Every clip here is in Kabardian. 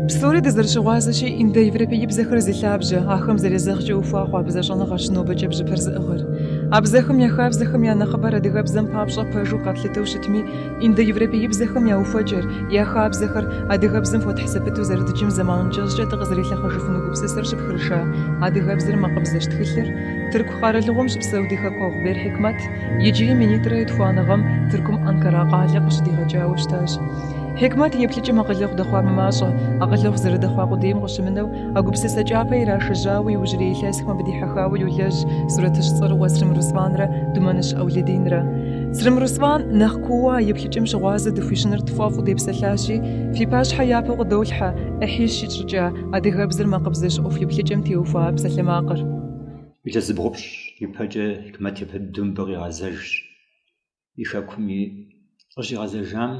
Псори дызэрыщыгъуазэщи, индоевропеибзэхэр зи лъабжьэ, ахэм зэрезэгъкӏэ ухуа хъуа бзэщӏэныгъэщ нобэкӏэ бжьыпэр зыӏыгъыр. А бзэхэм я хабзэхэм я нэхъыбэр адыгэбзэм папщӏэ пэжу къэтлъытэу щытми, индоевропеибзэхэм я ухуэкӏэр, я хабзэхэр адыгэбзэм хуэтхь зэпыту зэрыдджым зэман кӏэщӏкӏэ дыкъызэрилъэхъэжыфыну гупсысэр щыпхырыша адыгэбзэр макъыбзэщ тхылъыр, Тырку къэралыгъуэм щыпсэу ди хэкуэгъу Бер Хьикмэт, Иджыри минитӏрэ етхуанэ гъэм Тыркум Анкара къалэ къыщыдигъэкӏауэ щытащ. Хьикмэт и еплъыкӏэм акъылэгъу дэхъуа мымащӏэ, акъылэгъу зэрыдэхъуа къудейм къыщымынэу, а гупсысэ кӏапэ ирашэжьауэ иужьрей илъэсхэм абы дихьэхауэ йолэжь сурэтыщӏ цӏэрыӏуэ Црым Русланрэ Думэныщ Ӏэулэдинрэ. Црым Руслан нэхъ куууэ а еплъыкӏэм щыгъуазэ дыхуищӏыныр тфӏэфӏу депсэлъащи, фи пащхьэ япэу къыдолъхьэ, ӏыхьищ итщӏыкӏа, адыгэбзэр макъыбзэщ ӏуэху еплъыкӏэм теухуа псалъэмакъыр. Илъэс зыбгъупщӏ ипэкӏэ Хьикмэт япэ дыдэу мыбы къигъэзэжщ. И хэкум къыщигъэзэжам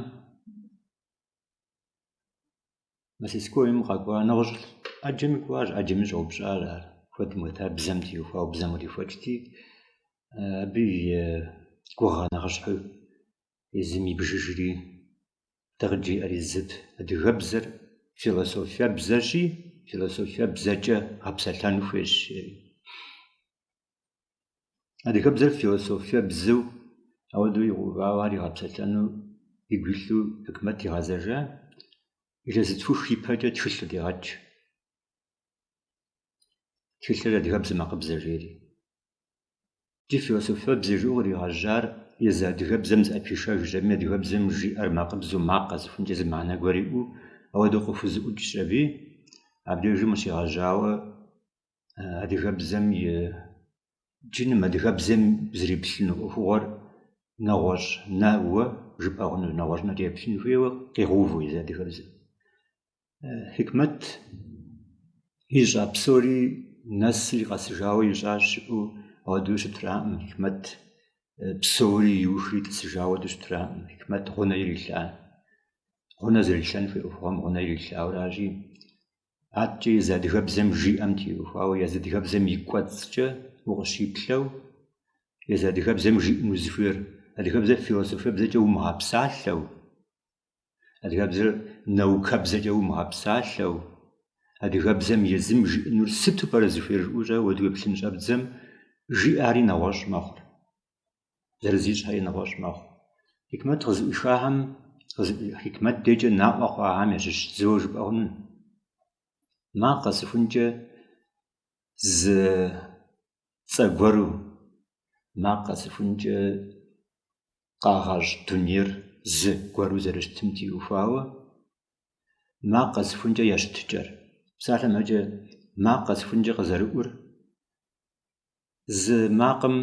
мастерскойм къэкӏуа нэгъуэщӏ ӏэджэми кӏуащ, ӏэджэми щӏэупщӏащ ар. Куэдым хуэта, бзэм теухуауэ, бзэм кърихуэкӏти, абы и гугъэ нэхъыщхьэу езым ибжыжри, Дэ къыджиӏэри зыт, адыгэбзэр философие бзэщи, философие бзэкӏэ гъэпсэлъэн хуейщ, жери. Адыгэбзэр философие бзэу ауэдэу игъэувауэ ар игъэпсэлъэну игу илъу Хьикмэт игъэзэжа, илъэс зытхух ипэкӏэ тхылъ къыдегъэкӏ. Тхылъыр адыгэбзэ макъыбзэ, жери. Ди философие бзэ жыӏэу къригъэжьар езы адыгэбзэм зыӏэпишэжщ аби, адыгэбзэм жиӏэр макъыбзэу макъ къэсыхункӏэ зы мыхьэнэ гуэр иӏэу, ауэдэу къыхузэӏукӏщ аби. Абдежым къыщегъэжьауэ адыгэбзэм и джыным адыгэбзэм зриплъыну ӏуэхугъуэр нэгъуэщӏ нэуэ жыпӏэ хъуну, нэгъуэщӏ нэ иреплъын хуейуэ къигъэувэу езы адыгэбзэм. Хьикмэт ищӏа псори нэсри къэсыжауэ ищӏащ жыӏэу ауэдэу щытраӏым, Хьикмэт псори иухри тӏысыжауэ ауэдэу щытраӏым, Хьикмэт гъунэ ирилъа. Гъунэ зэрилъэн хуей ӏуэхугъуэм гъунэ ирилъауэращи, адэкӏэ езы адыгэбзэм жиӏэм теухуауэ, езы адыгэбзэм и кӏуэцӏкӏэ укъыщиплъэу, езы адыгэбзэм жиӏэну зыхуейр, адыгэбзэр философие бзэкӏэ умыгъэпсалъэу, Адыгэбзэр наукэбзэкӏэ умыгъэпсалъэу, адыгэбзэм езым жиӏэнур сыту пӏэрэ зыхуейр жыӏэукӏэ ауэдэу уеплъын щӏэбдзэм жиӏари нэгъуэщӏ мэхъур, зэрызищӏхэри нэгъуэщӏ мэхъу. Хикмэт къызыӏуихахэм, Хикмэт дежкӏэ наӏуэ хъуахэм ящыщ зыуэ жыпӏэ хъуну. Макъ къэсыхункӏэ зы цӏэ гуэру, макъ къэсыхункӏэ къагъэщӏ дунейр зы гуэру зэрыщытым теухуауэ, макъ къэсыхункӏэ я щытыкӏэр. Псалъэмэкӏэ макъ къэсыхункӏэ къызэрыӏур, зы макъым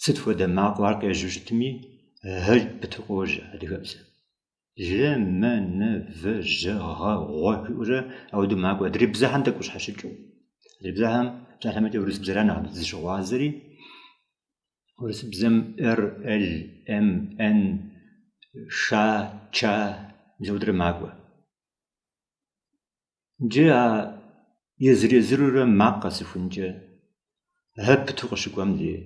сыт хуэдэ макъыу ар къежьэу щытми, э пыту къожьэ адыгэбзэм. лэ, мэ, нэ, вэ, жьэ, гъэ, гъуэ жиӏэурэ ауэдэу макӏуэ адрей бзэхэм тӏэкӏу къыщхьэщыкӏыу. Адрей бзэхэм псалъэмэкӏэ урысыбзэра нэхъ зыщыгъуазэри, урысыбзэм р, л, м, н, ш, ч мис ауэдэрэ макӏуэ. Джы а езыр-езырурэ макъ къэсыхункӏэ э пыту къыщыкӏуэм дей,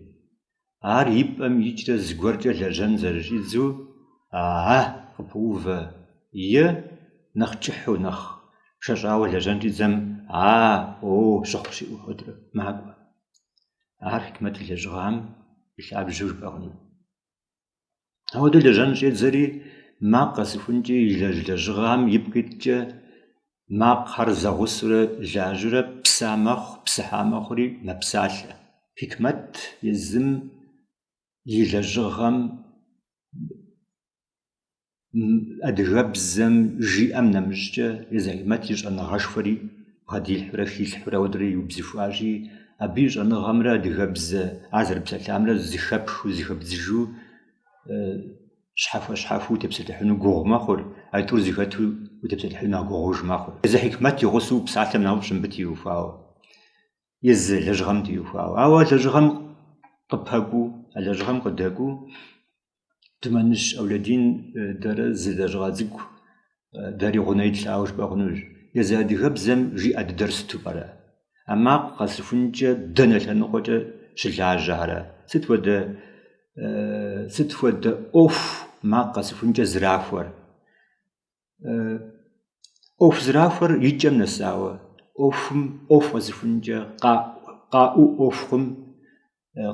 ар и пӏэм икӏрэ зыгуэркӏэ лэжьэн зэрыщӏидзу а-а къыпоувэ е нэхъ кӏыхьу, нэхъ шэщӏауэ лэжьэн щӏидзэм а-о щыхъу щыӏэу хуэдэурэ макӏуэ. Ар Хьикмэт и лэжьыгъэм и лъабжьэу жыпӏэ хъуну. Ауэдэ лэжьэн щӏедзэри, макъ къэсыхункӏи илэжь лэжьыгъэхэм ипкъ иткӏэ, макъхэр зэгъусэурэ лажьэрэ, пса мэхъу, псыхьа мэхъури мэпсалъэ. Хикмэт езым и лэжьыгъэм адыгэбзэм жиӏэм нэмыщӏкӏэ езы Хьикмэт и щӏэныгъэшхуэри бгъэдилъхьурэ хилъхьурэ ауэдэрэ иубзыхуащи, абы и щӏэныгъэмрэ адыгэбзэ ар зэрыпсэлъамрэ зыхэпхыу, зыхэбдзыжу, щхьэхуэ-щхьэхуэу утепсэлъыхьыну гугъу мэхъур, а тӏур зыхэту утепсэлъыхьыну нэхъ гугъуж мэхъур. Езы Хьикмэт и гъусэу упсалъэм нэхъыфӏщ мыбы теухуауэ, езы лэжьыгъэм теухуауэ. Ауэ а лэжьыгъэм къыпэкӏуу, а лэжьыгъэм къыдэкӏуу Думэныщ Аулэдин дэрэ зы лэжьыгъэ цӏыкӏу дэри гъунэ итлъауэ жыпӏэ хъунущ. Езы адыгэбзэм жиӏэ дыдэр сыту пӏэрэ? А макъ къэсыхункӏэ дэнэ лъэныкъуэкӏэ щылажьэрэ? Сыт хуэдэ сыт хуэдэ ӏуэху макъ къэсыхункӏэ зэрахуэр? ӏуэху зэрахуэр и кӏэм нэсауэ, ӏуэхум ӏуэху къэсыхункӏэ, къаӏуу ӏуэху хъум,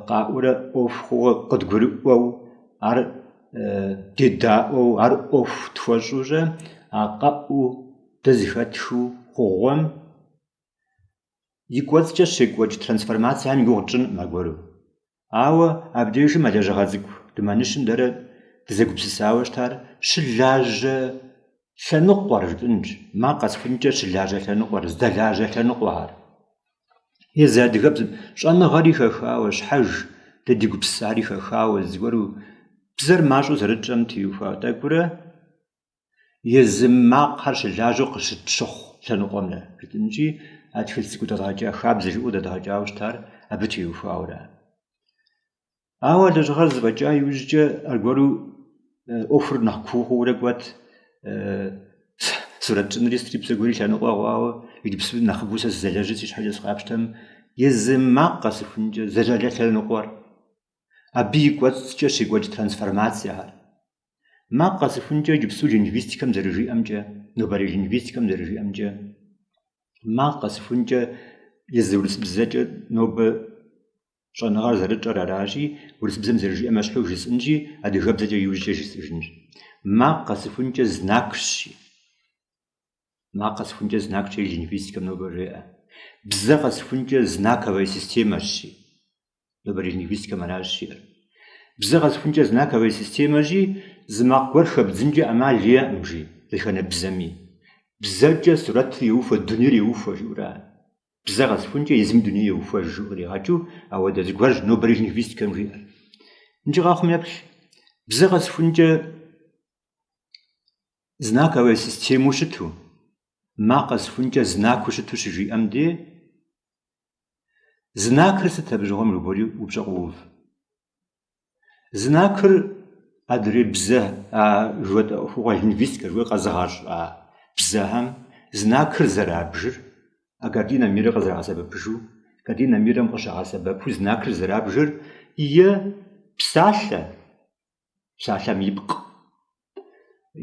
къаӏуурэ ӏуэху хъууэ къыдгурыӏуэу, ар дедаӏуэу, ар ӏуэху тхуэщӏурэ, а къэӏуу дэ зыхэтхыу хъугъуэм и кӏуэцӏкӏэ щекӏуэкӏ трансформацэхьэм и гугъу тщӏынкъым аргуэру. Ауэ абдежым а лэжьыгъэ цӏыкӏу Думэныщым дэрэ дызэгупсысауэ щытар щылажьэ лъэныкъуэр жытӏэнщ, макъ къэсхункӏэ щылажьэ лъэныкъуэр, здэлажьэ лъэныкъуэр. Езы адыгэбзэм щӏэныгъэри хэхауэ, щхьэж дэ ди гупсысари хэхауэ зыгуэру бзэр мащӏэу зэрытщӏэм теухуа тӏэкӏурэ езы макъхэр щылажьэу къыщытщыхъу лъэныкъуэмрэ жытӏэнщи, а тхылъ цӏыкӏу дэдгъэкӏа хабзэ жыӏэу дэдгъэкӏауэ щытар абы теухуауэра. Ауэ а лэжьыгъэр зэфӏэкӏа иужькӏэ аргуэру ӏуэхур нэхъ куу хъуурэ кӏуэт, сурэт щӏынри сытри псэ гуэри лъэныкъуэ хъуауэ, иджыпсту нэхъыбэу сэ сызэлэжьыр си щхьэкӏэ сыкъапщтэм, езым макъ къэсыхункӏэ здэлажьэ лъэныкъуэр, абы и кӏуэцӏкӏэ щекӏуэкӏ трансформацэхэр, Макъ къэсыхункӏэ иджыпсту лингвистикэм зэрыжиӏэмкӏэ, нобэрей лингвистикэм зэрыжиӏэмкӏэ, макъ къэсыхункӏэ езы урысыбзэкӏэ нобэ щӏэныгъэр зэрытщӏэр аращи, урысыбзэм зэрыжиӏэм ещхьу жысӏэнщи, адыгэбзэкӏэ иужькӏэ жысӏэжынщ. Макъ къэсыхункӏэ знакщи, макъ къэсыхункӏэ знакщи лингвистикэм нобэ жеӏэ. Бзэ къэсыхункӏэ знаковая системэщи. нобэрей лингвистикэм аращ жиӏэр. Бзэ къэсхункӏэ знаковая системэщи, зы макъ гуэр хэбдзынкӏэ ӏэмал иӏэкъым, жи, дэтхэнэ бзэми. Бзэкӏэ сурэтыр еухуэ, дунейр еухуэ, жиӏэурэ. Бзэ къэсхункӏэ езым дуней еухуэж, жиӏэу къригъэкӏыу ауэдэ зыгуэрщ нобэрей лингвистикэм жиӏэр. Иджы къэхъум еплъ, бзэ къэсхункӏэ знаковая системэу щыту, макъ къэсхункӏэ знакыу щыту щыжиӏэм де, Знакыр сыт абы щыгъуэм жыпӏэри упщӏэ къоув. Знакыр адрей бзэ а жыхуэтӏэ ӏуэхугъуэ лингвистикэ жыхуаӏэ къэзыгъэщӏа бзэхэм знакыр зэрабжыр, а картина мира къызэрагъэсэбэпыжу, картина мирэм къыщагъэсэбэпу знакыр зэрабжыр е псалъэ, псалъэм и пкъ.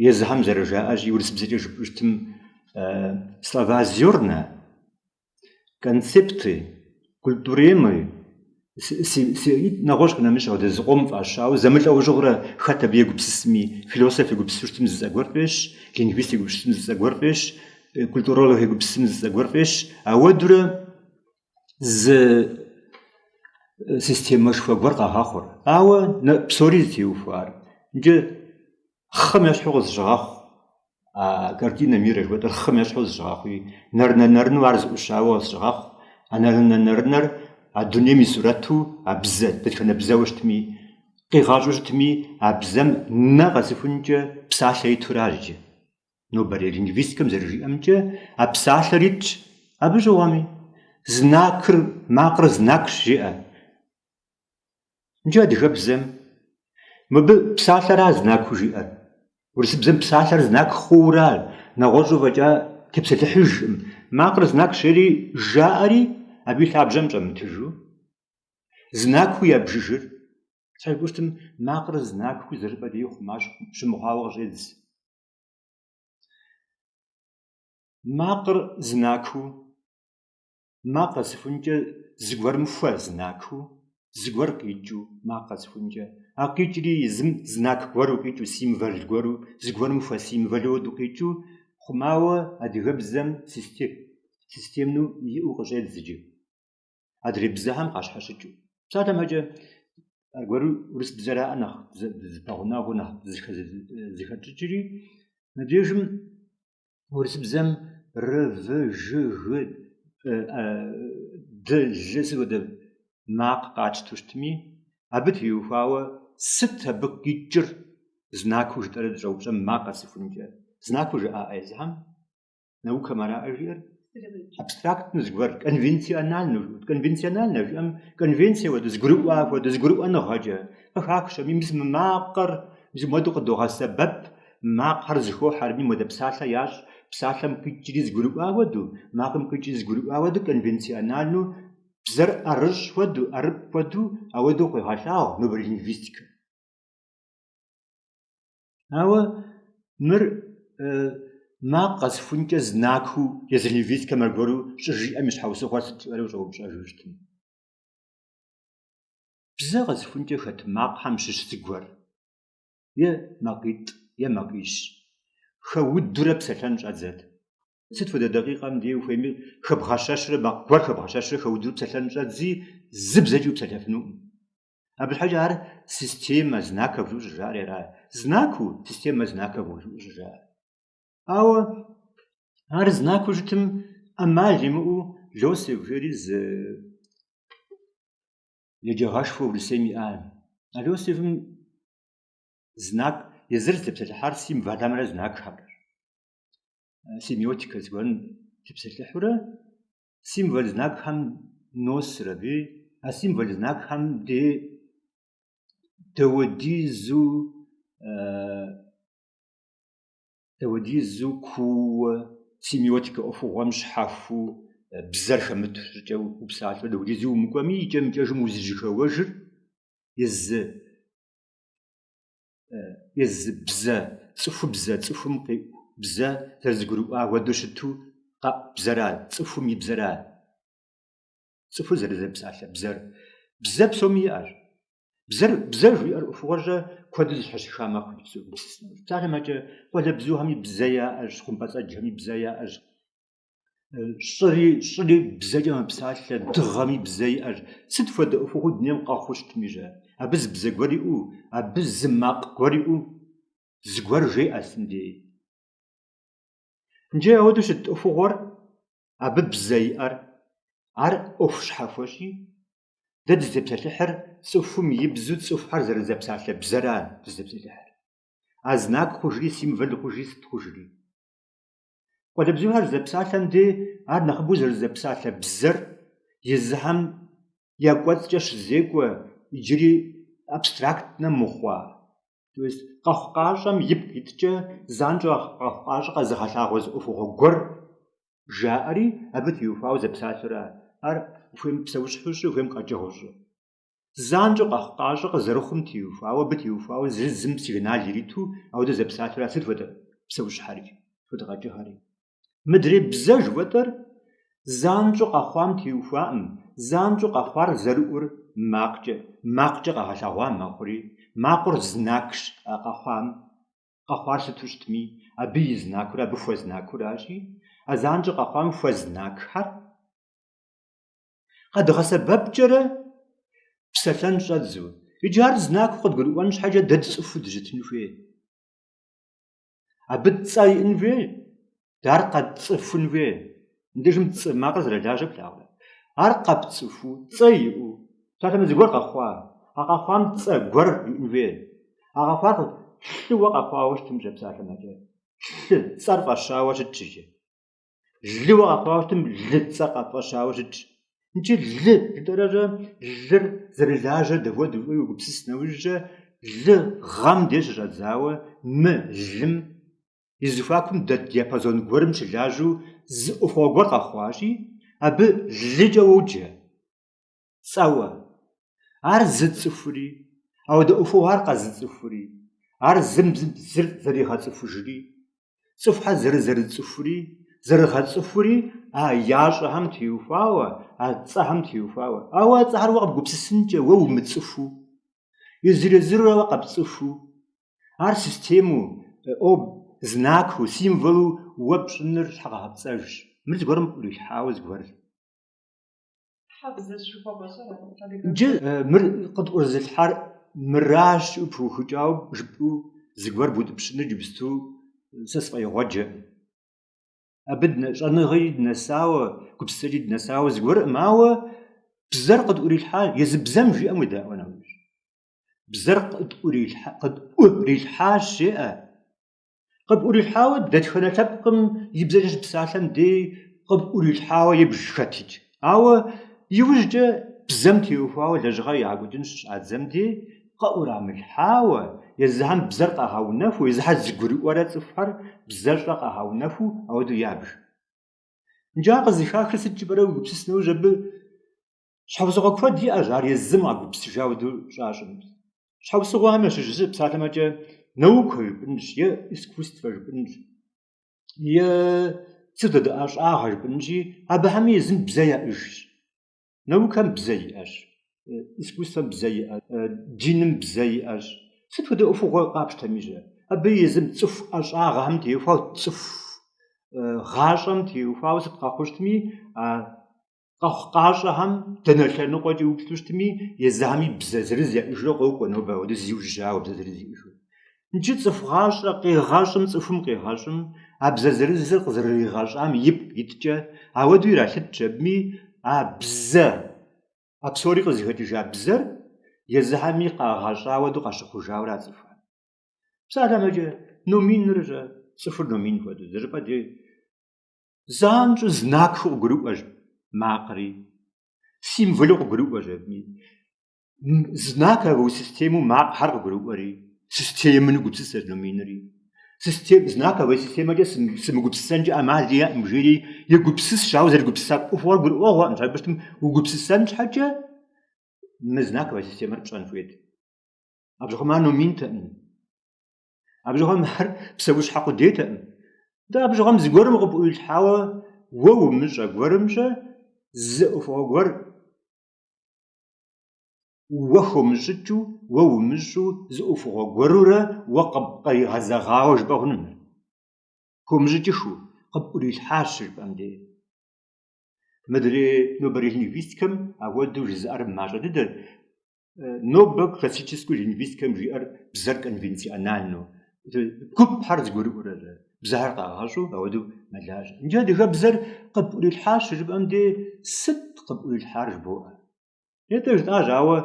Езыхэм зэрыжаӏэщи, урысыбзэкӏэ жыпӏэщтым слова-зёрна, концепты культуремы нэгъуэщӏ къинэмыщӏ ауэдэ зыкъом фӏащауэ зэмылӏэужьыгъурэ хэт абы егупсысми философ егупсысу щытым зы цӏэ гуэр фӏещ лингвист егупсысым зы цӏэ гуэр фӏещ культуролог егупсысым зы цӏэ гуэр фӏещ ауэдурэ зы системэшхуэ гуэр къагъэхъур ауэ псори зытеухуар иджы хъым ещхьу къызыщыгъэхъу, а картина мира жыхуэтӏэр хъым ещхьу къызыщыгъэхъуи, нэрынэ-нэрыну ар зыӏущауэ къызыщыгъэхъу, а нэрынэ-нэрынэр а дунейм и сурэту а бзэ, дэтхэнэ бзэуэ щытми, къигъэщӏу щытми, а бзэм нэ къэсыхункӏэ псалъэ иту ара иджы. Нобэрей лингвистикэм зэрыжиӏэмкӏэ, а псалъэр итщ. Абы щыгъуэми, знакыр макъыр знакщ жиӏэ. Иджы адыгэбзэм мыбы псалъэра знаку жиӏэр. Урысыбзэм псалъэр знак хъуура, нэгъуэщӏу фӏэкӏа тепсэлъыхьыжкъым. Макъыр знакщ жери жаӏэри, абы и лъабжьэм щӏэмытыжу, знаку ябжыжыр. Сальгущтым макъыр знаку зыщӏыпӏэ деи хъума щымыхъуауэ къыщӏедз. Макъыр знаку макъ къэсыхункӏэ зыгуэрым хуэзнакыу, зыгуэр къикӏыу, макъ къэсыхункӏэ, а къикӏри езым знак гуэру къикӏыу, символ гуэру, зыгуэрым хуэсимволу хуэду къикӏыу, хъумауэ адыгэбзэм системнэу иӏэу къыщӏедз иджы, адрей бзэхэм къащхьэщыкӏыу. Псалъэм щхьэкӏэ, аргуэру урысыбзэраӏэ нэхъ зыпэгъунэгъуу нэхъ зыхэтщӏыкӏри, мыбдежым урысыбзэм ры, вы, жы, гы, ды, лы сыт хуэдэ макъ къатщтэу щытми, абы теухуауэ сыт абы къикӏыр знакыу жытӏэрэ дыщӏэупщӏэм макъ къэсыхункӏэ знакыу жаӏэ езыхэм наукэм араӏэ жиӏэр? абстрактнэ зыгуэр, конвенциональнэ, конвенциональнэ жиӏэм конвенцие хуэду зэгурыӏуа хуэду зэгурыӏуэныгъэкӏэ къыхахащ. Абы мис мы макъыр мис муэду къыдогъэсэбэп, макъхэр зэхохьэри муэдэ псалъэ ящӏ, псалъэм къикӏри зэгурыӏуа хуэдэу, макъым къикӏри зэгурыӏуа хуэдэу конвенциональнэу бзэр ӏэрыщӏ хуэдэу, ӏэрыпӏ хуэдэу ауэдэу къуегъэлъагъу нобэрей лингвистикэм. Ауэ мыр макъ къэсыхункӏэ знакыу езы лингвистикэм аргуэру щӏыжиӏэм и щхьэусыгъуэр сыт жыпӏэрэ ущӏэупщӏэжу щытым. Бзэ къэсыхункӏэ хэт макъхэм щыщ зыгуэр е макъитӏ е макъищ хэудурэ псэлъэн щӏэдзэт. Сыт хуэдэ дакъикъэм дей ухуейми хэбгъэщэщрэ макъ гуэр хэбгъэщэщрэ хэудурэ псэлъэн щӏэдзи зы бзэкӏи упсэлъэфынукъым. Абы щхьэкӏэ ар системэ знаков жиӏэу щӏыжаӏэр ара знаку системэ знаков жиӏэу щӏыжаӏэр. Ауэ ар знаку щытым ӏэмал имыӏэу Лосев жери зы еджагъэшхуэ Урысейм иӏа. А Лосевым знак езыр зытепсэлъыхьар символымрэ знакхэмрэ. Семиотикэ зыгуэрым тепсэлъыхьурэ символ знакхэм носыр аби, а символ знакхэм дей дауэдизу дауэдизу куууэ семиотикэ ӏуэхугъуэм щхьэхуэу бзэр хэмыт щӏыкӏэу упсалъэу дауэдизу умыкӏуэми, икӏэм-икӏэжым узыжьэхэуэжыр езы езы бзэ, цӏыхубзэ, цӏыхум къиӏу бзэ зэрызэгурыӏуа хуэдэу щыту къэӏу бзэра, цӏыхум и бзэра, цӏыхур зэрызэпсалъэ бзэр. Бзэ псоми иӏэщ. Бзэр, бзэ жиӏэр ӏуэхугъуэкӏэ куэду зэщхьэщыха мэхъу иджы. Псалъэм щхьэкӏэ, къуалэбзухэми бзэ яӏэщ, хъумпӏэцӏэджхэми бзэ яӏэщ, щӏыри щӏыри бзэкӏэ мэпсалъэ, дыгъэми бзэ иӏэщ. Сыт хуэдэ ӏуэхугъуэ дунейм къэхъуу щытмикӏэ, абы зы бзэ гуэр иӏэу, абы зы макъ гуэр иӏэу зыгуэр жеӏэ сытым дей. Иджы ауэдэу щыт ӏуэхугъуэр абы бзэ иӏэр? Ар ӏуэху щхьэхуэщи, дэ дызытепсэлъыхьыр цӏыхум и бзэу цӏыхухэр зэрызэпсалъэ бзэра дызытепсэлъыхьыр. А знак хъужри, символ хъужри, сыт хъужри. Къуалэбзухэр зэпсалъэм дей, ар нэхъыбэу зэрызэпсалъэ бзэр езыхэм я кӏуэцӏкӏэ щызекӏуэ иджыри абстрактнэ мыхъуа, то есть къэхъукъащӏэм ипкъ иткӏэ занщӏэу а къэхъукъащӏэр къэзыгъэлъагъуэ зы ӏуэхугъуэ гуэр жаӏэри, абы теухуауэ зэпсалъэу ара, ар ухуейм псэущхьэу щӏы, ухуейм къэкӏыгъэу щӏы. Занщӏэу къэхъукъащӏэ къызэрыхъум теухуауэ абы теухуауэ зыр зым сигнал ириту ауэдэ зэпсалъэу ара сыт хуэдэ псэущхьэри, сыт хуэдэ къэкӏыгъэри. Мыдрей бзэ жыхуэтӏэр занщӏэу къэхъуам теухуакъым, занщӏэу къэхъуар зэрыӏур макъкӏэ, макъкӏэ къэгъэлъэгъуа мэхъури, макъыр знакщ а къэхъуам, къэхъуар сыту щытми, абы и знакыу ара, абы хуэзнакыу аращи, а занщӏэу къэхъуам хуэзнакхэр, Къэдгъэсэбэпкӏэрэ псэлъэн щӏэддзэу. Иджы ар знакыу къыдгурыӏуэн щхьэкӏэ дэ дцӏыхуу дыщытын хуей. Абы цӏэ иӏын хуей, дэ ар къэтцӏыхун хуей. Мыбдежым цӏэ макъыр зэрылажьэр плъагъурэ. Ар къэпцӏыхуу, цӏэ иӏэу, псалъэмэ зыгуэр къэхъуа. А къэхъуам цӏэ гуэр иӏын хуей. А къэхъуар лыуэ къэхъуауэ щытымкӏэ, псалъэм щхьэкӏэ, лы цӏэр фӏэщауэ щытщ икӏи. Лыуэ къэхъуауэ щытым лы цӏэ къыфӏэщауэ щытщ. Икӏи лы жытӏэрэщӏэ лыр зэрылажьэр дапхуэдэ жыпӏэу уегупсыс нэужькӏэ, лыгъэм деж щыщӏэдзауэ мылым и зэхуакум дэт диапазон гуэрым щылажьэу зы ӏуэхугъуэ гуэр къэхъуащи, абы лыкӏэ уоджэ. цӏэуэ. Ар зыцӏыхури, ауэдэ ӏуэхугъуэ ар къэзыцӏыхури, ар зым зыр зэригъэцӏыхужри, цӏыхухэр зэрызэрыцӏыхури, зэрыгъэцӏыхури а ящӏэхэм теухуауэ, а цӏэхэм теухуауэ. Ауэ а цӏэхэр уэ къыбгупсысынкӏэ, уэ умыцӏыхуу, езыр-езырурэ уэ къэпцӏыхуу, ар системэу, ӏуэб, знакыу, символу уэ пщӏыныр щхьэгъэпцӏэжщ. Мыр зыгуэрым къыӏурилъхьауэ зыгуэрыр. Джы мыр къытӏурызылъхьар мыращ уэ пыухыкӏауэ жыпӏэу зыгуэр бутӏыпщыныр джыпсту сэ сфӏэигъуэджэ. Абы щӏэныгъэкӏи дынэсауэ, гупсысэкӏи дынэсауэ зыгуэркъым, ауэ бзэр къытӏурилъхьа, езы бзэм жиӏэм уедаӏуэ нэужь. Бзэр къытӏурилъхьащ жеӏэ. Къыпӏурилъхьауэ дэтхэнэ лъэпкъым и бзэкӏэ щыпсалъэм дей къыпӏурилъхьауэ ебж хэти. Ауэ иужькӏэ бзэм теухуауэ лэжьыгъэ ягъэкӏуэкӏын щыщӏадзэм дей къыӏурамылъхьауэ, езыхэм бзэр къагъэунэхуу, езыхьэ зэгурыӏуэрэ цӏыхухэр бзэщӏэ къагъэунэхуу ауэдэу ябж. Иджы ар къызыхахыр сыт жыпӏэрэ уегупсыс нэужь абы Щхьэусыгъуэ куэд иӏэщ ар езым къагупсыжауэ дэу щӏащӏым. Щхьэусыгъуэхэм ящыщ зы псалъэмэкӏэ наукэ жыпӏынщ е искусствэ жыпӏынщ е сыт хуэдэ ӏэщӏагъэ жыпӏынщи, абыхьэми езым бзэ яӏыжщ. Наукэм бзэ иӏэщ, искусствэм бзэ иӏэщ, диным бзэ иӏэщ. Сыт хуэдэ ӏуэхугъуэ къапщтэми щэ, абы езым цӏыху ӏэщӏагъэхэм теухуауэ цӏыху гъащӏэм теухуауэ сыт къэхъуу щытми а къэхъукъащӏэхэм дэнэ лъэныкъуэкӏи уплъэу щытми, езыхэми бзэ зырыз яӏыжурэ къокӏуэ нобэ ауэдэ зиужьыжауэ бзэ зырыз иӏыжу. Иджы цӏыху гъащӏэ къигъэщӏым цӏыхум къигъэщӏым, а бзэ зырызыр къызэрыригъэщӏам ипкъ иткӏэ, ауэдэу иралъытщ абыми а бзэ, а псори къызыхэкӏыжа бзэр езыхэми къагъэщӏа ауэдэу къащыхъужауэ ара цӏыхухэм. Псалъэмэкӏэ, номиныр щэ, цӏыхур номин хуэдэу, зыщӏыпӏэ дей, Занщӏэу знакхэу къыгурыӏуэщ макъри, символэу къыгурыӏуэщ абыми. Знаковэ системэу макъхьэр къыгурыӏуэри, системнэу гупсысэщ номинри. Систем, знаковэ системэкӏэ сымыгупсысэнкӏэ ӏэмал иӏэкъым жиӏэри, егупсысщ, ауэ зэрыгупсыса ӏуэхугъуэр гурыӏуэгъуэкъым. Щхьэ жыпӏэу щытым угупсысэн щхьэкӏэ, мы знаковэ системэр пщӏэн хуейт. Абы щыгъуэм ар номинтэкъым. Абы щыгъуэм ар псэущхьэ къудейтэкъым. Атӏэ абы щыгъуэм зыгуэрым къыпӏуилъхьауэ уэ умыщӏэ гуэрым щэ зы ӏуэхугъуэ гуэр уэ хомыщӏыкӏыу, уэ умыщӏу зы ӏуэхугъуэ гуэрурэ уэ къыпкъригъэзэгъауэ жыпӏэ хъунум ар. Хомыщӏыкӏыхыу къыпӏурилъхьащ жыпӏэм де. Мыдрей нобэрей лингвистикэм ахуэдэу жызыӏэр мащӏэ дыдэт. нобэ классическу лингвистикэм жиӏэр бзэр конвенциональну, гупхьэр зыгурыӏуэрэрэ, бзэхэр къагъэщӏу ауэдэу мэлажьэ. Иджы адыгэбзэр къыпӏурилъхьащ жыпӏэм де сыт къыпӏурилъхьар жыбоӏэ. Атӏэ жытӏащ, ауэ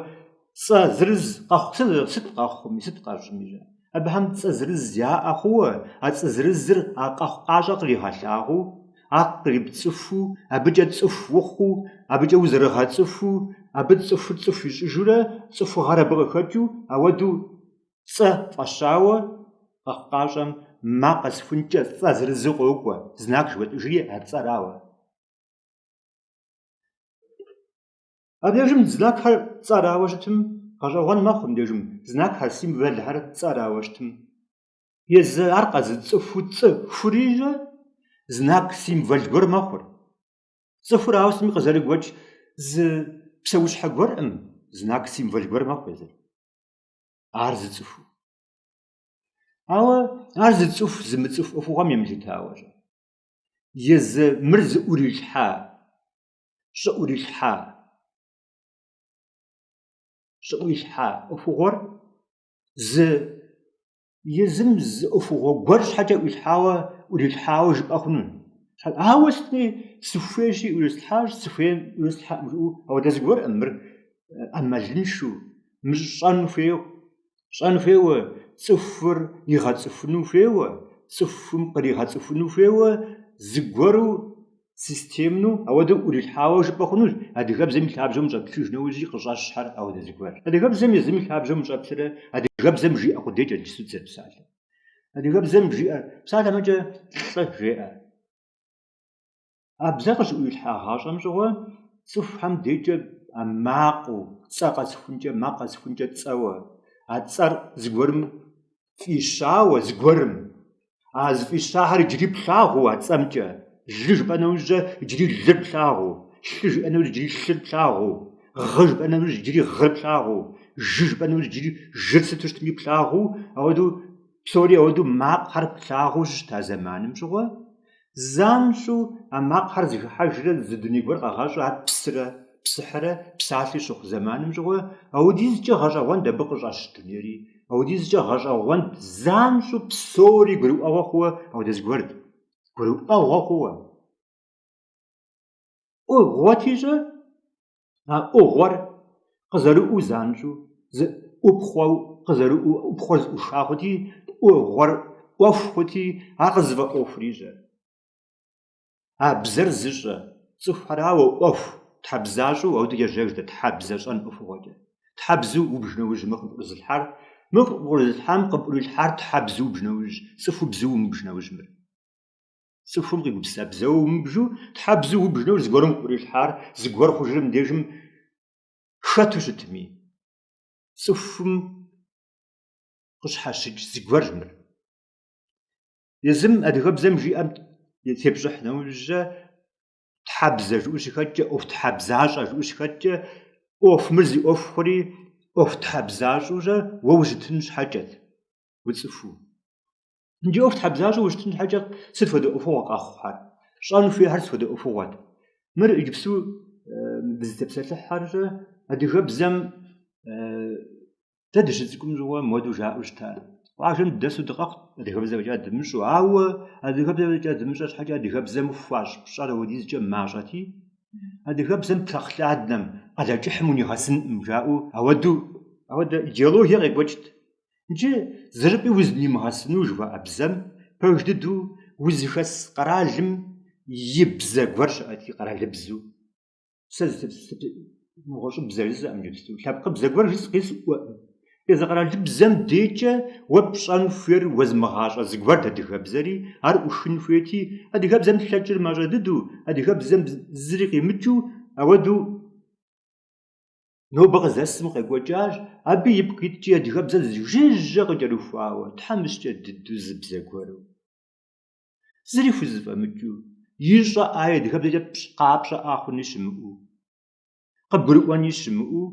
цӏэ зырыз къэхъу, сыт къэхъуми, сыт къэщӏми. Абыхэм цӏэ зырыз яӏэ хъууэ, а цӏэ зырызыр а къэхъукъащӏэр къригъэлъагъуу, ар кърипцӏыхуу, абыкӏэ цӏыху ухъуу, абыкӏэ узэрыгъэцӏыхуу, абы цӏыхур цӏыху ищӏыжурэ цӏыхугъэр абы къыхэкӏыу, ауэдэу цӏэ фӏэщауэ къэхъукъащӏэм макъ къэсхункӏэ цӏэ зырызу къокӏуэ, знак жыхуэтӏыжри а цӏэрауэ. Абдежым знакхэр цӏэрауэ щытым, гъэщӏэгъуэн мэхъу мыбдежым знакхэр, символхэр цӏэрауэ щытым. Езы ар къэзыцӏыхуу цӏыхури щэ знак, символ гуэр мэхъур. Цӏыхур ауэ сытми къызэрыгуэкӏ зы псэущхьэ гуэрӏым знак, символ гуэр мэхъу езыр. Ар зыцӏыхуу. Ауэ ар зыцӏыху зымыцӏыху ӏуэхугъуэм емылъытауэ щэ. Езы мыр зыӏурилъхьа щӏыӏурилъхьа ӏуэхугъуэр зы езым зы ӏуэхугъуэ гуэр щхьэкӏэ ӏуилъхьауэ, ӏурилъхьауэ жыпӏэ хъуну. Ауэ сытми, сыхуейщи, ӏурислъхьащ, сыхуейм ӏурислъхьэӏым жыӏэу, ауэдэ зыгуэрӏым мыр ӏэмалыншэу, мыщӏэну хуейуэ. щӏэн хуейуэ, цӏыхур игъэцӏыхуну хуейуэ, цӏыхум къригъэцӏыхуну хуейуэ, зыгуэру системну ауэдэу ӏурилъхьауэ жыпӏэ хъунущ, адыгэбзэм и лъабжьэм ущӏэплъыж нэужьи къыщӏэщхэр ауэдэ зыгуэр. Адыгэбзэм езым и лъабжьэм ущӏэплърэ адыгэбзэм жиӏэ къудейкӏэ иджыпсту дызэрыпсалъэ. Адыгэбзэм жиӏэ псалъэмэкӏэ лӏы жеӏэ. А бзэр къыщыӏуилъхьагъащӏэм щыгъуэ цӏыхухэм декӏэ а макъыу, цӏэ къэсхункӏэ, макъ къэсхункӏэ цӏэуэ, а цӏэр зыгуэрым фӏищауэ, зыгуэрым. А зыфӏищахэр иджыри плъагъуу а цӏэмкӏэ, лы жыпӏэ нэужькӏэ иджыри лыр плъагъуу, лъы жыпӏэ нэужь иджыри лъыр плъагъуу, гъы жыпӏэ нэужь иджыри гъыр плъагъуу, жы жыпӏэ нэужь иджыри жыр сыту щытми плъагъуу, ауэдэу псори ауэдэу макъхэр плъагъуу щыщыта зэманым щыгъуэ, Занщӏэу а макъхэр зыхыхьэжрэ зы дуней гуэр къэгъэщӏу ар псрэ псыхьрэ псалъи щыхъу зэманым щыгъуэ, ауэдизкӏэ гъэщӏэгъуэнд абы къыщӏэщ дунейри, ауэдизкӏэ гъэщӏэгъуэнд занщӏэу псори гурыӏуэгъуэ хъууэ ауэдэ зыгуэрт. Гурыӏуэгъуэ хъууэ. ӏугъуэти щӏэ? а ӏугъуэр къызэрыӏуу занщӏэу, зы ӏупхъуэу къызэрыӏуу, ӏупхъуэр зыӏуша хъути, ӏугъуэр ӏуэху хъути, ар къызыфӏэӏуэхури щӏэ? А бзэр зыщӏэ, цӏыхухэрауэ ӏуэху, тхьэбзащӏэу, ауэдэу ежьэж дэ тхьэбзэ щӏэн ӏуэхугъуэкӏэ. Тхьэбзу убж нэужь мы къыпӏурызылъхьар, мы къыпӏурызылъхьам къыпӏурилъхьар тхьэбзу убж нэужь, цӏыху бзэу умыбж нэужь мыр. Цӏыхум къигупсыса бзэу умыбжу, тхьэбзу убж нэужь зыгуэрым къыпӏурилъхьар зыгуэр хъужыр мыбдежым хэту щытми, цӏыхум къыщхьэщыкӏ зыгуэрщ мыр. Езым адыгэбзэм жиӏэм тепщӏыхь нэужьэ, тхьэбзэ жыӏэу щыхэткӏэ, ӏуэхутхьэбзащӏэ жыӏэу щыхэткӏэ, ӏуэху мыр зи ӏуэху хъури, ӏуэхутхьэбзащӏэурэ уэ ущытын щхьэкӏэт уцӏыхуу. Иджы ӏуэху тхьэбзащӏэу ущытын щхьэкӏэ сыт хуэдэ ӏуэхугъуэ къэхъухэр? Щӏэн хуейхэр сыт хуэдэ ӏуэхугъуэт? Мыр иджыпсту дызытепсэлъыхьхэр щӏэ адыгэбзэм дэ дыщыцӏыкӏум щыгъуэ мыуэдэу жаӏэу щыта? Къуажэм дыдэсу дыкъэхъут адыгэбзэ фӏэкӏа дымыщӏэу, ауэ адыгэбзэ фӏэкӏа дымыщӏэ щхьэкӏэ адыгэбзэм хуащӏ пщӏэр ауэдизкӏэ мащӏэти, адыгэбзэм Прохладнэм, Къалэкӏыхьым унигъэсынкъым жаӏэу ауэдэу. Ауэдэ идеологие къекӏуэкӏт Иджы зырыпӏи узнимыгъэсыну жыхуаӏэ бзэм пэж дыдэу узыхэс къэралым и бзэ гуэр щыӏэти, къэралыбзу. Сэ нэгъуэщӏыбзэ жысӏэкъым иджыпсту, лъэпкъыбзэ гуэр жысӏэкъи сӏуэкъым. Езы къэралыбзэм декӏэ уэ пщӏэн хуейр уэзмыгъащӏэ зыгуэрт адыгэбзэри, ар ӏушын хуейти, адыгэбзэм лъэкӏыр мащӏэ дыдэу, адыгэбзэм зыри къимыкӏыу, ауэдэу. Нобэ къызэсым къекӏуэкӏащ, абы ипкъ иткӏи адыгэбзэр зы жыжьэ къыкӏэрыхуауэ, тхьэмыщкӏэ дыдэу зы бзэ гуэру. Зыри хузэфӏэмыкӏыу, ищӏэ ӏаи адыгэбзэкӏэ пщӏ къапщӏэӏа хъуни щымыӏэу. Къыбгурыӏуэни щымыӏэу,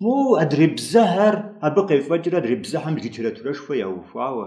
моуэ адрей бзэхэр абы къефӏэкӏрэ адрей бзэхэм литературэшхуэ яухуауэ,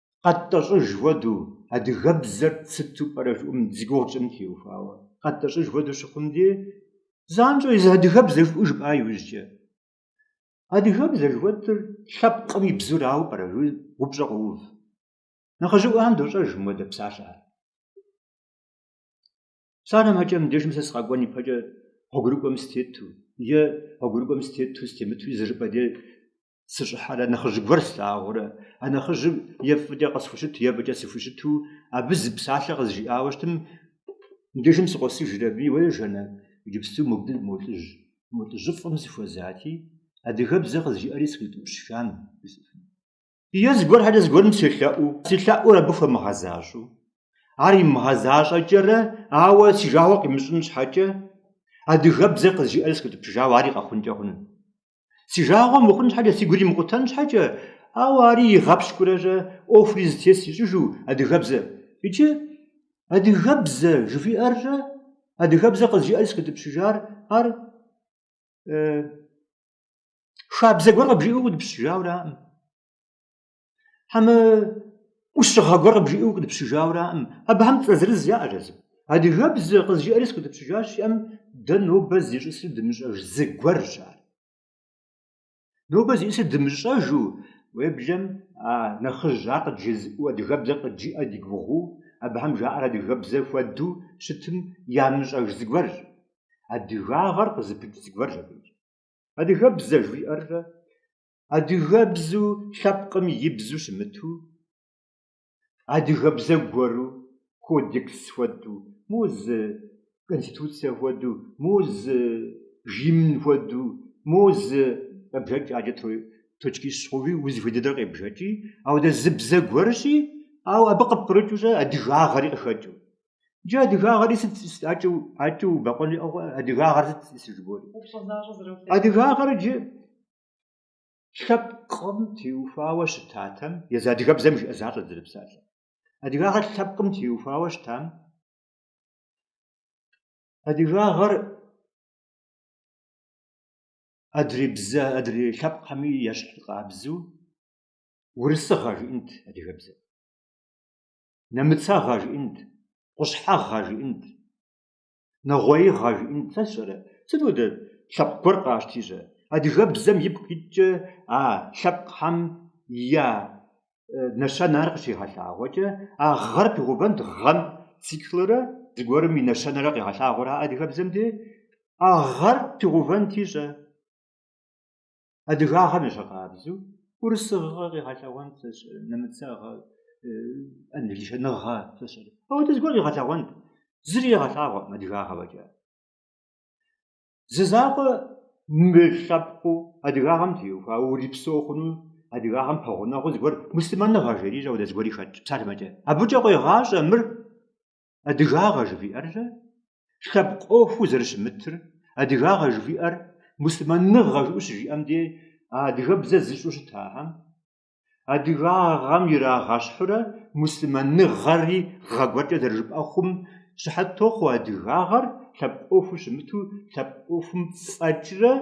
Къэттӏэщӏыж хуэдэу, адыгэбзэр сыту пӏэрэ жыӏум зи гугъу тщӏым теухуауэ. Къэттӏэщӏыж хуэдэу щыхъум де, занщӏэу езы адыгэбзэ жыпӏэу жыпӏа иужькӏэ. Адыгэбзэ жыхуэтӏэр лъэпкъым и бзэрауэ пӏэрэ жыӏуи упщӏэ къоув. Нэхъыжьыӏуэхэм дощӏэж мыуэдэ псалъэхэр. Сэ армэкӏэ мыбдежым сэ сыкъэкӏуэн ипэкӏэ гъуэгурыкӏуэм сытету е гъуэгурыкӏуэм сытету, сытемытуи зыжыпӏэ де сыщӏыхьэрэ нэхъыжь гуэр слъагъурэ, а нэхъыжьым е фӏыкӏэ къысхущыту, е фӏыкӏэ сыхущыту, абы зы псалъэ къызжиӏауэ щытым, мыбдежым сыкъосыжрэ абыи, уэ Жаннэ, иджыпсту мобде мо лӏыжь, мо лӏыжьыфӏым сыхуэзати, адыгэбзэ къызжиӏэри сыкъитӏыпщыжам, жысӏэфынут. Е зыгуэр хьэкӏэ зыгуэрым селъэӏуу, си лъэӏур абы хуэмыгъэзащӏэу, ар имыгъэзащӏэкӏэрэ, ауэ си жагъуэ къимыщӏын щхьэкӏэ, адыгэбзэ къызжиӏэри сыкъитӏыпщыжауэ ари къэхъункӏэ хъунут. Си жагъуэ мыхъун щхьэкӏэ си гур имыкъутэн щхьэкӏэ, ауэ ари игъэпщкӏурэ щӏэ ӏуэхури зэтес ищӏыжу адыгэбзэ. Иджы адыгэбзэ жыхуиӏэр щӏэ, адыгэбзэ къызжиӏэри сыкъитӏыпщыжар ар хабзэ гуэр къыбжиӏэу укъитӏыпщыжауэраӏым. Хьэмэ ӏущыгъэ гуэр къыбжиӏэу укъитӏыпщыжауэраӏым. Абыхэм цӏэ зырыз яӏэщ езым. Адыгэбзэ къызжиӏэри сыкъитӏыпщыжащ жиӏэм, дэ нобэ зищӏысыр дымыщӏэж зы гуэрщ ар. Нобэ зищӏысыр дымыщӏэжу уеблэм а нэхъыжь ар къыджезыӏэу адыгэбзэр къыджиӏэ ди гугъуу, абыхэм жаӏэр адыгэбзэ хуэдэу щытым ямыщӏэж зы гуэрщ. Адыгагъэр къызыпыкӏ зы гуэрщ абыкӏ. Адыгэбзэ жиӏэр щӏэ адыгэбзу лъэпкъым и бзу щымыту, адыгэбзэ гуэру, кодекс хуэдэу, мо зы конституцэ хуэдэу, мо зы гимн хуэдэу, мо зы къебжэкӏ ӏэджэ точкищ гъэуви узыхуей дыдэр къебжэкӏи, ауэдэ зы бзэ гуэрщи, ауэ абы къыпкърыкӏыу щӏэ адыгагъэри къыхэкӏыу. Иджы адыгагъэри сыт ӏэкӏыу, ӏэкӏыу убэкъуэн жыӏэу, адыгагъэр сыт зыжыбоӏэри. Упщӏэ защӏэ зэролъэкӏ. Адыгагъэр иджы лъэпкъым теухуауэ щытатэм, езы адыгэбзэм жиӏэ защӏэт зэрыпсалъэм. Адыгагъэр лъэпкъым теухуауэ щытам, адыгагъэр адрей бзэ, адрей лъэпкъхэми ещхь къабзэу урысыгъэ жиӏэнт адыгэбзэм, нэмыцэгъэ жиӏэнт, къущхьэгъэ жиӏэнт, Нэгъуеигъэ жиӏэнт сэ сщӏэрэ? Сыт хуэдэ лъэпкъ гуэр къащти щӏэ? Адыгэбзэм ипкъ иткӏэ а лъэпкъхэм я нэщэнэр къыщигъэлъагъуэкӏэ, а гъэр пигъэувэнт гъэм циклрэ зыгуэрым и нэщэнэрэ къигъэлъагъуэрэ адыгэбзэм де, а гъэр пигъэувэнти щӏэ? Адыгагъэм ещхь къабзэу урысыгъэ къигъэлъэгъуэнт сэ сщӏэрэ, нэмыцэгъэ, англичэныгъэ сэ сщӏэрэ. Ауэдэ зыгуэр къигъэлъэгъуэнт. Зыри къигъэлъагъуэкъым адыгагъэ фӏэкӏа. Зы закъуэ мылъэпкъыу адыгагъэм теухуа, урипсэу хъуну, адыгагъэм пэгъунэгъуу зыгуэр муслъымэныгъэ жери щӏэ ауэдэ зыгуэри хэтщ псалъэм щхьэкӏэ. Абыкӏэ къуегъащӏэ мыр адыгагъэ жывиӏэррэ лъэпкъ ӏуэхуу зэрыщымытыр, адыгагъэ жывиӏэр муслъымэныгъэ жыӏэу щыжиӏэм де а адыгэбзэр зыщӏэу щытахэм, адыгагъэм ирагъэщхьурэ муслъымэныгъэри гъэ гуэркӏэ зэрыжыпӏэ хъум щыхьэт тохъуэ адыгагъэр лъэпкъ ӏуэхуу щымыту лъэпкъ ӏуэхум фӏэкӏрэ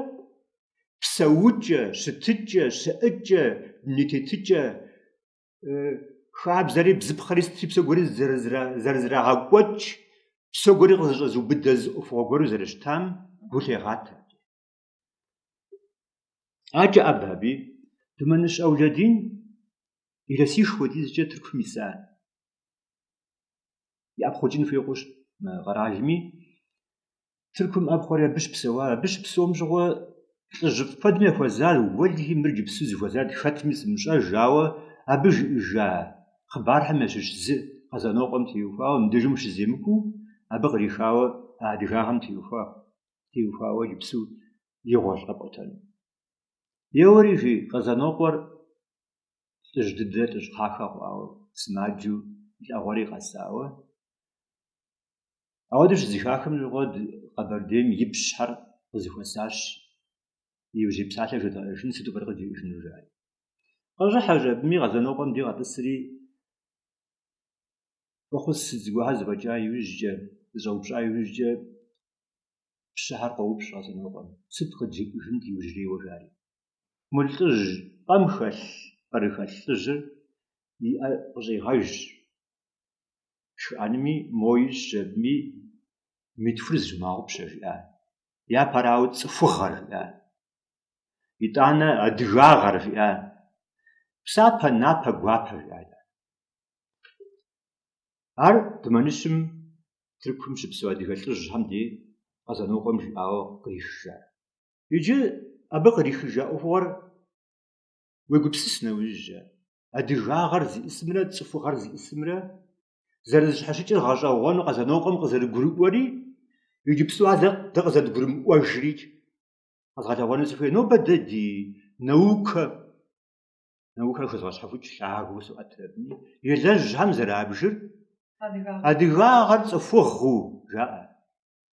псэукӏэ, щытыкӏэ, щыӏэкӏэ, дуней тетыкӏэ хабзэри бзыпхъэри сытри псо гуэри зэрызэрагъэкӏуэкӏ, псо гуэри къызэщӏэзыубыдэ зы ӏуэхугъуэ гуэру зэрыщытам гу лъегъатэ. Акӏэ ӏэбэ аби Думэныщ Аулэдин илъэсищ хуэдизкӏэ Тыркум иса иӏэпхъукӏын хуей хъущ мы къэралми. Тыркум ӏэпхъуэри абы щыпсэуа, абы щыпсэум щыгъуэ лӏыжьыфӏ куэдым яхуэзар Уэлэхьи, мыр иджыпсу зыхуэзар хэтми сымыщӏэж, ауэ абы жиӏэжа хъыбархэм ящыщ зы Къэзанокъуэм теухуауэ, мыбдежым щыземыкӏуэу, абы кърихауэ адыгагъэм теухуауэ иджыпсу игъуэщ къэпӏуэтэну. Еуэри, жи, Къэзанокъуэр лӏыжь дыдэ, лӏыжь кхъахэ хъуауэ, сымаджэу, и лӏэгъуэри къэсауэ. Ауэдэу щызэхахым щыгъуэ Къэбэрдейм и пщыхэр къызэхуэсащ иужьей псалъэр жэдгъэӏэжын сыту пӏэрэ къыджиӏэжыну жари. Къыщӏыхьэщ абыми Къэзанокъуэм ди къэтӏысри фӏэхъус сыт зыгуэрхэр зэфӏэкӏа иужькӏэ, зыщӏэупщӏа иужькӏэ пщыхэр къоупщӏ Къэзанокъуэм, сыт къыджиӏэжынт иужьрейуэ жари. Мы лӏыжь пӏэм хэлъ, пӏэрыхэлъ лӏыжьыр и ӏэ къыщӏигъэжщ. шхыӏэнми, мой щӏэбми мы тхур зыщывмыгъэгъупщэ жиӏа. Япэрауэ цӏыхугъэр жиӏа. Итӏанэ адыгагъэр жиӏа. Псапэ, напэ, гуапэ жиӏа итӏанэ. Ар Думэныщым Тыркум щыпсэу адыгэ лӏыжьхэм дей Къэзанокъуэм жиӏауэ кърихыжа. Иджы абы кърихыжа ӏуэхугъуэр уегупсыса нэужькӏэ. адыгагъэр зиӏысымрэ цӏыхугъэр зиӏысымрэ зэрызыщхьэщыкӏыр гъэщӏэгъуэну Къэзанокъуэм къызэрыгурыӏуэри, иджыпсту ар дэ къызэрыдгурымыӏуэжри къэзгъэлъэгъуэну сыхуей. Нобэ дэ ди наукэ, наукэр хэзгъэщхьэхукӏ лъагэу соӏэтрэ абы елэжьхэм зэрабжыр адыгагъэр цӏыхугъэу жаӏэ.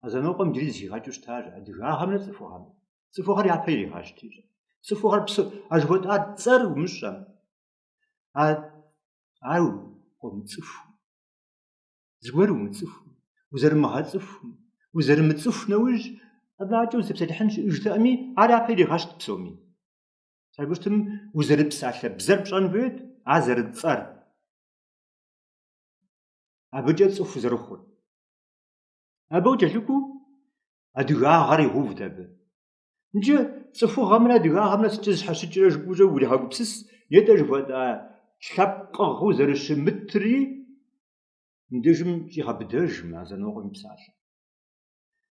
Къэзанокъуэм иджыри зэхигъэкӏыу щытащ адыгагъэмрэ цӏыхугъэмрэ. Цӏыхугъэр япэ иригъэщт иджы. Цӏыхугъэр псы а жыхуэтӏа цӏэр умыщӏэм. А укъамыцӏыху. Зыгуэр умыцӏыху, узэрымыгъэцӏыху, узэрымыцӏыху нэужь абыкӏэ узэпсэлъыхьын щыӏэжтэкъыми, ар япэ иригъэщт псоми. Сабыртым узэрыпсалъэ бзэр пщӏэн хуейт, а зэрыцӏэр. Абыкӏэ цӏыху зэрыхъур. Абы къыкӏэлъыкӏуу адыгагъэр игъэувт абы. Иджы цӏыхугъэмрэ адыгагъэмрэ сыткӏэ зэщхьэщыкӏрэ жыпӏэукӏэ уригъэгупсыс, нетӏэ жыхуэтӏа лъэпкъыгъэу зэрыщымытри мыбдежым щӏигъэбыдэж мы Къэзанокъуэм и псалъэр.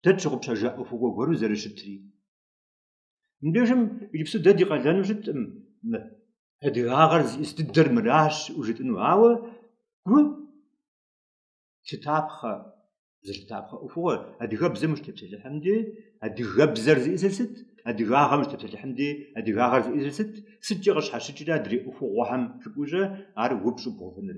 Дэ тщыгъупщэжа ӏуэхугъуэ гуэру зэрыщытри. Мыбдежым иджыпсту дэ ди къалэну щыткъым мы адыгагъэр зиӏыс дыдэр мыращ жытӏыну, ауэ гу лъытапхъэ зылъытапхъэ ӏуэхугъуэр, адыгэбзэм ущытепсэлъыхьым дей, адыгэбзэр зиӏысыр сыт, адыгагъэм ущытепсэлъыхьым дей, адыгагъэр зиӏысыр сыт, сыткӏэ къыщхьэщыкӏрэ адрей ӏуэхугъуэхэм жыпӏэущӏэ ар упщӏу бгъэувыныр.